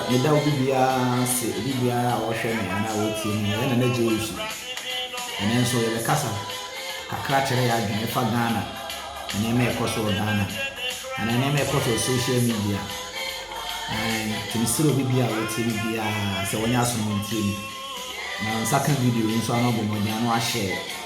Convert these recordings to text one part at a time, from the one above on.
Meda obi biara ase, obi biara a ɔhwɛ me anaa ɔtie me. Meyɛ Nana Gye Awusu. Ɛnɛ nso yɛbɛkasa kakra kyerɛ yɛ adwene ɛfa Ghana nneɛma a ɛkɔ so wɔ Ghana anaa nneɛma a ɛkɔ so wɔ social media. Nti mesrɛ obi biara a ɔtie me biara sɛ wɔnyɛ aso na wɔntie me. Na nsa ka video yi nso ano bɔ mmɔden ano ahyɛ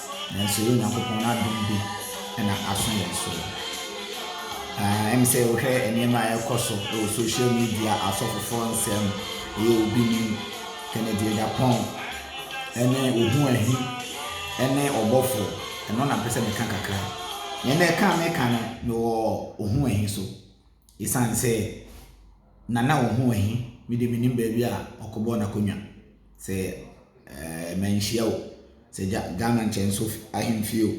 nanso ɛyɛ Onyankopɔn n'adom bi na aso yɛn so. Ɛm sɛ wohwɛ nneɛma a ɛrekɔ so wɔ social media, asɔfofoɔ nsɛm, ɛyɛ obi nim, Kennedy Agyapong, ɛne Ohu Ahi, ɛne ɔbɔfo, ɛno na mpɛ sɛ meka kakra. Nea na ɛka meka no, mewɔ Ohu Ahi so, ɛsiane sɛ. Nana wo ho wɔ he? Me deɛ menim baabi a ɔkɔbɔɔ n'akonnwa sɛ ɛɛ manhyia o. Sɛ gya Ghana nkyɛnso ahemfie o.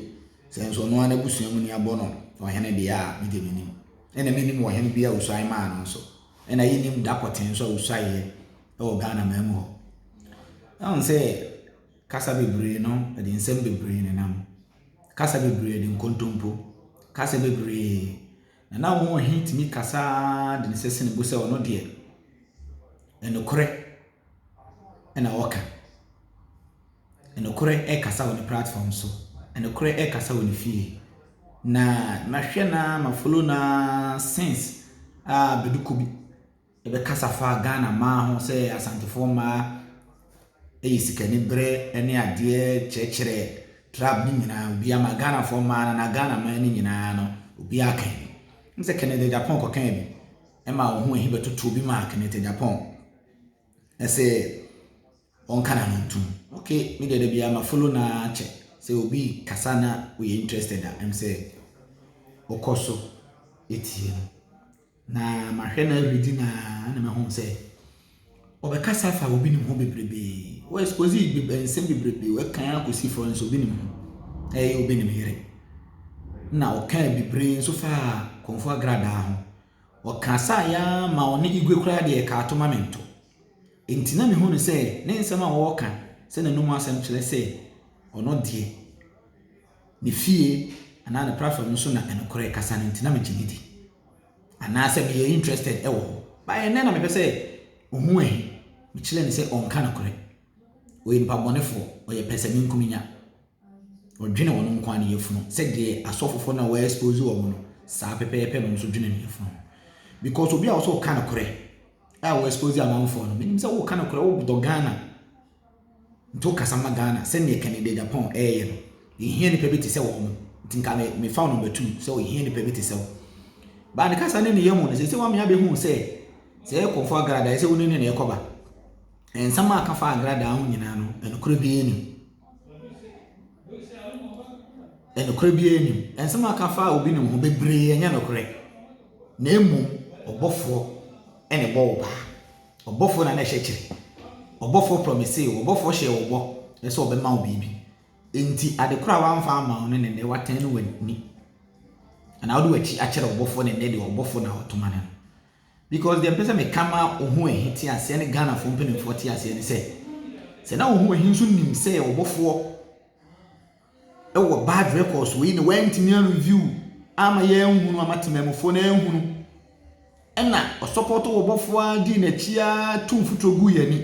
Sɛ nso ɔno ara n'abusua muni abɔ no ɔhene deɛ a, me deɛ menim. Ɛna menim ɔhene bi a ɔsuae maa no nso. Ɛna yɛnim da pɔtee nso a ɔsuaeɛ wɔ Ghana man mu hɔ. Ɛhu sɛ kasa bebree no, ɛde nsɛm bebree nenam. Kasa bebree de nkontompo. Kasa bebree. Na na wɔn he tumi kasa ara de ne sɛ sene bo sɛ ɔno deɛ nokorɛ na ɔka. Nokorɛ ɛkasa wɔ ne platform so. Nokorɛ ɛkasa wɔ ne fie. Na mahwɛ no ara, ma follow no ara since a bɛdu kɔ bi. Yɛbɛkasa fa Ghana mmaa ho sɛ Asantefoɔ mmaa yɛ sikaniberɛ ne adeɛ kyerɛkyerɛ trap no nyinaa obiara ama Ghanafoɔ mmaa no anaa Ghana mmaa no nyinaa no, obiara ka bi. Wonim sɛ Kenneth Agyapong kɔkaa bi ma wɔn ho ahi bɛtotoo bi maa Kenneth Agyapong sɛ ɔnka n'ano ntom. Okay, me deɛ da biara ma follow no ara kyɛ sɛ obi kasa na woyɛ interested a ɛm sɛ wokɔ so tie no. Na mahwɛ no every di na na me home sɛ ɔbɛkasa afa obi nim ho bebrebe wɔ expose nsɛm bebrebe wɔ kan akɔsi fɔ nso obi nim ho ɛyɛ obi nim yere na ɔka bebree nso fa kɔnfo agradaa ho ɔka saa ya ma ɔne igwe koraa deɛ ɛka ato ma me nto nti na mehu no sɛ ne nsɛm a ɔka sɛ n'anom asɛm kyerɛ sɛ ɔno deɛ me fie anaa ne platform no so na nokorɛ kasa no nti na megye no di anaasɛ meyɛ interested wɔ hɔ but ɛnnɛ na mepɛ sɛ ɔhu ahi mekyerɛ no sɛ ɔnka nokorɛ ɔyɛ nipa bɔnefoɔ ɔyɛ pɛsɛmenkominya ɔdwene ɔno nko a ne yafunu sɛdeɛ asɔfofoɔ no a wɔyɛ expose wɔn no saa pɛpɛɛpɛ no nso dwene ne yafunu because obi a wɔsɛ ɔka nokorɛ a wɔ expose amanfoɔ no menim sɛ woka nokorɛ wodɔ Ghana Nti wo kasa ma Ghana sɛdeɛ Kenny Dagyapong ɛɛyɛ no. Yɛhia nipa bi te sɛ wɔn. Nti nka me me fa wo number two sɛ yɛhia nipa bi te sɛ wo. Baa ne kasa ne ne yɛ mu no sese wame abɛhu sɛ sɛ yɛ kɔnfo agradaa ɛsɛ wo ne ne na ɛkɔ ba. Nsɛm a aka fa agradaa ho nyinaa no ɛnokorɛ bi anim. Ɛnokorɛ bi anim. Nsɛm a aka fa obi nom ho bebree ɛnyɛ nokorɛ. Na mmom ɔbɔfoɔ ɛna ɛbɔ wo paa. Ɔbɔfoɔ na na ɛhyɛ kyerɛ. Ɔbɔfoɔ promisee wo, ɔbɔfoɔ hyɛɛ wo bɔ sɛ ɔbɛma wo biribi. Enti ade korɔ a wamfa amma wo no ne nnɛ watɛn no w'ani. Anaa wode w'akyi akyerɛ ɔbɔfoɔ ne nnɛ deɛ ɔbɔfoɔ na ɔtoma no no. Because deɛ mpɛ sɛ meka ma wo ho ahi te aseɛ ne Ghanafoɔ mpanimfoɔ te aseɛ ne sɛ, sɛ na wo ho ahi nso nim sɛ ɔbɔfoɔ wɔ bad records wei na wantumi a review ama yɛanhunu ama temanmufoɔ no anhunu ɛna ɔsɔpɔto wɔ bɔfoɔ a dii n'akyi a tu mfuturo gu yɛn ani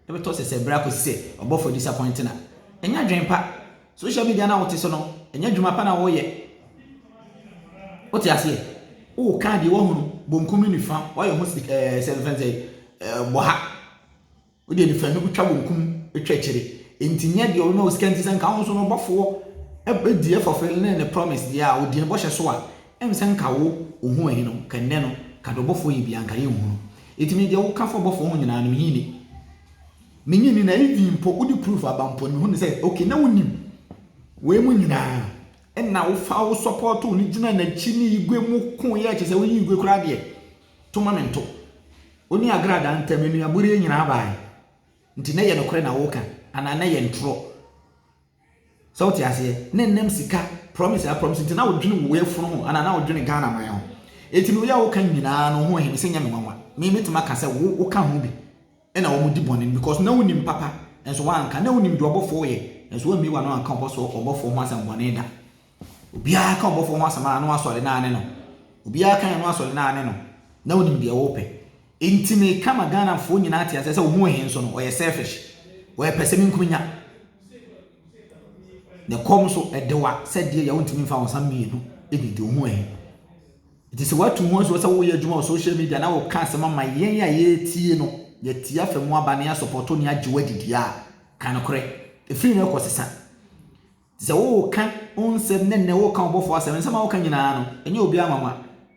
ɛbɛtɔ sɛ sɛ berɛ akɔsi sɛ ɔbɔfoɔ disappoint na ɛnyɛ adwene pa social media no a wote so no ɛnyɛ adwuma pa na wɔyɛ wote aseɛ woka deɛ wahunu bonkum ne nifa woayɛ ho sika ɛɛ sɛ mfɛn sɛ ɛɛ bɔha Wode anifuraeɛ bɛtwa wɔn kum atwa akyire. Enti nyɛ deɛ ɔbɛma wo sika nti sɛ nka wo nso no ɔbɔfoɔ ɛdi ɛfɔfele ne ne promise deɛ a ɔdi ne bɔhyɛ so a ɛm sɛ nka wo ohun ɛhe no ka nnɛ no ka deɛ ɔbɔfoɔ yɛ biara nka yɛ nhu no eti me deɛ wo ka fa ɔbɔfoɔ ho nyinaa no me he ni me nye ni na even mpo wode proof aba mpo no me hu no sɛ ok na wo nim wei mu nyinaa ɛna wo fa wo support wo ne gyina n'akyi ne igwe mu ko yɛ kyɛ sɛ wo yi igwe koraa deɛ to ma mento. Wo ne agradaa ntam nnuaboreɛ nyinaa baeɛ. Nti na ɛyɛ nokorɛ na woreka anaa na ɛyɛ ntorɔ? Sɛ wote aseɛ? Na ɛnam sika promise a promise nti na wodwene wo yafunu ho anaa na wodwene Ghana man ho. Enti no yɛ a woka nyinaa no ho ɛhe me sɛ nyɛ me nwanwa. Me mɛtumi aka sɛ wo woka ho bi. na wɔn di bɔne no because na wonim papa nso wanka na wonim deɛ ɔbɔfoɔ yɛ nso wammie wano anka ɔbɔso ɔbɔfoɔ ho asɛm bɔne da obiara ka ɔbɔfoɔ ho asɛm a na wasɔre na ane no obiara ka yɛ no asɔre na ane no na wonim deɛ wɔpɛ nti me ka ma Ghanafoɔ nyinaa te asɛ sɛ ohun he nso no ɔyɛ selfish ɔyɛ pɛ sɛ me nkumi nya ne kɔm so ɛdewa sɛdeɛ yɛ wontumi mfa wɔn nsa mmienu ɛdidi ohun he Enti sɛ watu ho ansuo sɛ woyɛ adwuma wɔ social media na woka asɛm ama yɛn a yɛretie no, yɛatie afa mu aba na yɛasɔpɔto ne agye wo adi deɛ a, ka nokorɛ. Ɛfiri nnɛ rekɔ sesa. Te sɛ woka wo nsɛm ne nnɛ woka ɔbɔfoɔ asɛm, nsɛm a woka nyinaa no, ɛnyɛ obiara nwanwa.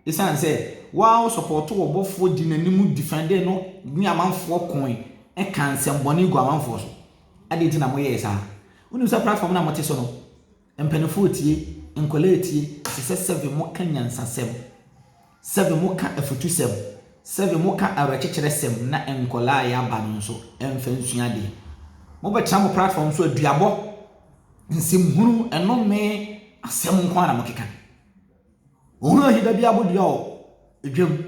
Ɛsiane sɛ woa wosɔpɔto ɔbɔfoɔ di n'anim defɛndee no ne amanfoɔ koe ka nsɛmbɔne gu amanfoɔ so. Adɛn nti na moyɛɛ saa? Wonim sɛ platform no a mote so no, Mpaninfoɔ tie, nkwadaa tie, ɛsɛ sɛ sɛve mo ka nyansasɛm, sɛve mo ka afutusɛm, sɛve mo ka awerɛkyekyerɛ sɛm na nkwadaa a yɛaba no nso mfa nsua adeɛ. Mo bɛ tena mo platform so aduabɔ, nsɛm hunu, ɛnome, asɛm nko ara na mo keka. Ohun ahida bi abodua o, edwam,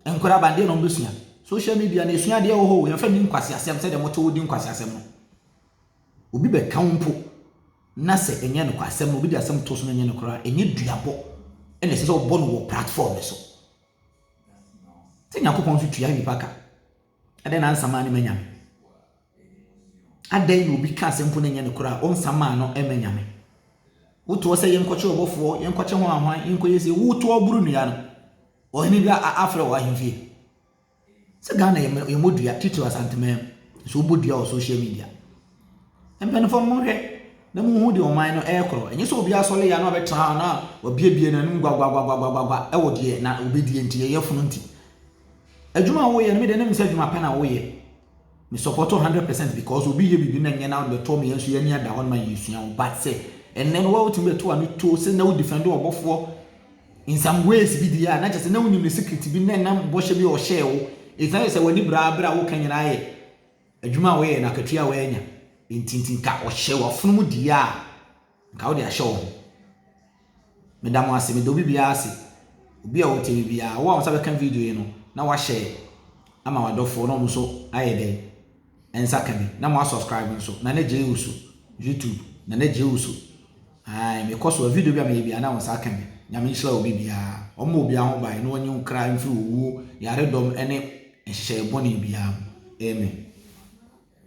nkwadaa aba adeɛ na wɔn bɛ sua. Social media na esua adeɛ wɔ hɔ o, yɛn fa ni nkwasi asɛm sɛdeɛ mo te wo di nkwasi asɛm no. Obi bɛka wo mpo na sɛ ɛnyɛ nokwasɛm na obi de asɛm to so na ɛnyɛ no koraa, ɛnyɛ duabɔ na ɛsɛ sɛ ɔbɔ no wɔ platform no so. Sɛ Nyankopɔn nso tua nnipa ka. Adɛn na ansa maa no ma Nyame? Adɛn na obi ka asɛm mpo na ɛnyɛ no koraa, ɔnsa maa no ma Nyame? Wotoɔ sɛ yɛnkɔkye ɔbɔfoɔ, yɛnkɔkye ho ahwan, yɛnkɔyɛ sie, wotoɔ boro nnua no. Ɔhene bi afrɛ wɔ ahemfie. Sɛ Ghana yɛ mɛ yɛmmɔ dua titiri Asanteman mu nso wobɔ dua wɔ social media. Mpanimfoɔ no monhwɛ na monhu deɛ ɔman no ɛrekorɔ. Ɛnyɛ sɛ obi asɔre yɛ na ɔbɛtena hɔ na wabiebie n'anom gwagwagwagwagwagwa ɛwɔ deɛ na obɛdie nti ɛyɛ funu nti. Adwuma a woyɛ no mede ne nim sɛ adwuma pa na woyɛ. Me support wo hundred percent because obi yɛ biribi na nyɛ na bɛto wɔn yɛn nso yɛn ani ada hɔ no ma yɛsua wo but sɛ ɛnɛ no wɔwɔ tumi bɛto ano tuo sɛ na wo defend ɔbɔfoɔ in some ways bi di yɛ a na kyɛ sɛ na wonim ne secret bi na ɛnam bɔhyɛ bi a ɔhyɛɛ wo ɛfina yɛ sɛ w'ani braa berɛ a woka nyinaa yɛ adwuma a wɔyɛ na akatua a wɔanya ntintinka ɔhyɛ wafono mu di yɛ a Nka wode ahyɛ wɔn. Meda mo ase, meda obi biara ase. Obi a ɔte me biara, wo a wo nsa bɛka video yi no, na wahyɛ ama wadɔfoɔ na ɔno nso ayɛ dɛn? Nsa ka bi, na mo asubscribe nso. Na ne gye usu, YouTube, na ne gye usu. Ae, mekɔ so a video bi a meyɛ biara na wo nsa ka bi. Nyame nhyira obi biara. Ɔmma obi ho ban na ɔnyi wo kra mfiri owuo, yaredɔm ne nhyehyɛeɛ bɔne biara mu. Amen.